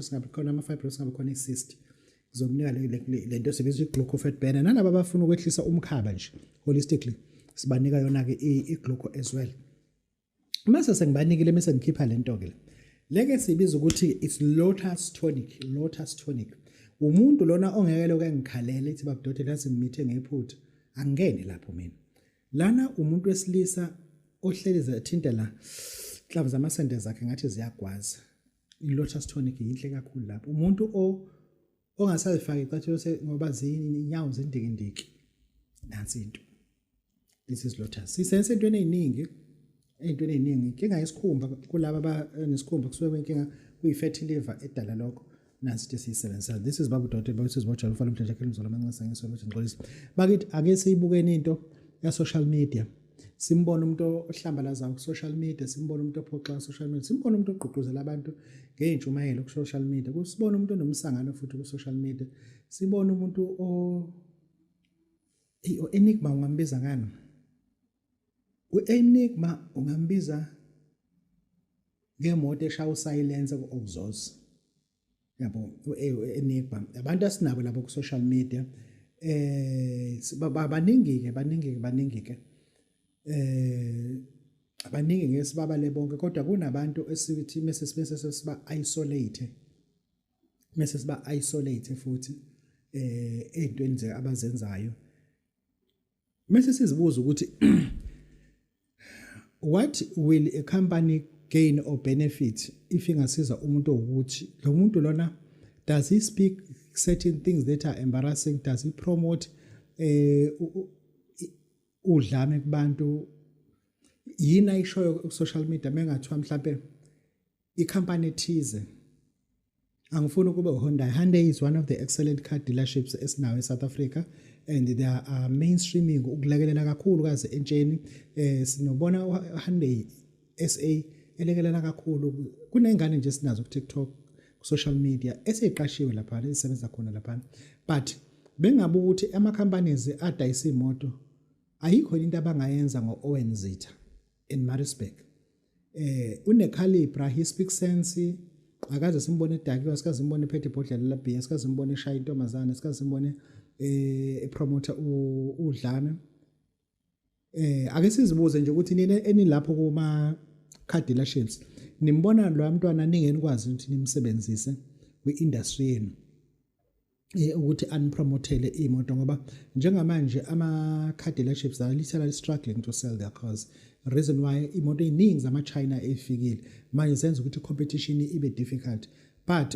singabi khona ama-fibrosis singabi khona i-cyst ngizomnika le nto sibiza i-gluco fat burner nalaba abafuna ukwehlisa umkhaba nje holistically sibanika yona-ke i-gluco as well mase sengibanikile mese ngikhipha le nto-ke le leke sibiza ukuthi it's lotus tonic lotus tonic umuntu lona ongeke loke ngikhalele ithi babudodela yazi ngimithe ngephutha angene lapho mina lana umuntu wesilisa ohleli zathinta la inhlamvu zamasende zakhe ngathi ziyagwaza ilotus tonic yinhle kakhulu lapho umuntu o ongasazifaki icathulo se ngoba zinyawo zindikindiki nansi into this is lotus sisense entweni eziningi entweni eziningi inkinga yesikhumba kulabo abanesikhumba eh, kusuke kwenkinga kuyi-fatty liver edala lokho nansi into esiyisebenzisa this is babu doti bawusizi bojalo ufana umdlesha khela umzolo amancinisa ngisolo ukuthi ngixolisa bakithi ake siyibukeni into ya-social media simbona umuntu ohlambalazayo ku-social media simbona umuntu ophoxa ku-social media simbona umuntu ogqugquzela abantu ngey'ntshumayelo ku-social media sibona umuntu onomsangano futhi ku-social media sibona umuntu o-enigma ungambiza ngani u-enigma ungambiza ngemoto eshaya usayilense ku-oxos yabo enigba abantu asinabo labo ku social media eh baningi ke baningi baningi ke eh abaningi ngeke sibabale bonke kodwa kunabantu esithi mese sibese siba isolate mese siba isolate futhi eh ezintweni nje abazenzayo mase sizibuza ukuthi what will a company gain or benefit if ingasiza umuntu ukuthi lo muntu lona does he speak certain things that are embarrassing does he promote eh udlame kubantu yini ayishoyo ku social media mengathiwa mhlambe ikhampani ethize angifuni ukube uHonda Hyundai is one of the excellent car dealerships esinawo eSouth Africa and they are uh, mainstreaming ukulekelela kakhulu kaze entsheni eh sinobona uHyundai SA elekelela kakhulu kunengane nje sinazo ku TikTok ku social media eseqashiwe lapha esebenza khona lapha but bengabe ukuthi ama companies adayisa imoto ayikho into abangayenza ngo Owen Zitha in Maritzburg eh une calibre he speaks sense akaze simbone edakiwa sikaze simbone ephethe ibhodlela la beer sikaze simbone eshaya intombazana sikaze simbone eh epromoter udlame eh ake sizibuze nje ukuthi nina enilapho kuma car dealerships nimbona lo mntwana ningeni kwazi ukuthi nimsebenzise kwi industry yenu eh, ukuthi anipromothele imoto ngoba njengamanje ama-car dealerships are literally struggling to sell their cars reason why imoto ey'ningi zama-china ey'fikile manje zenza ukuthi i-competition ibe difficult but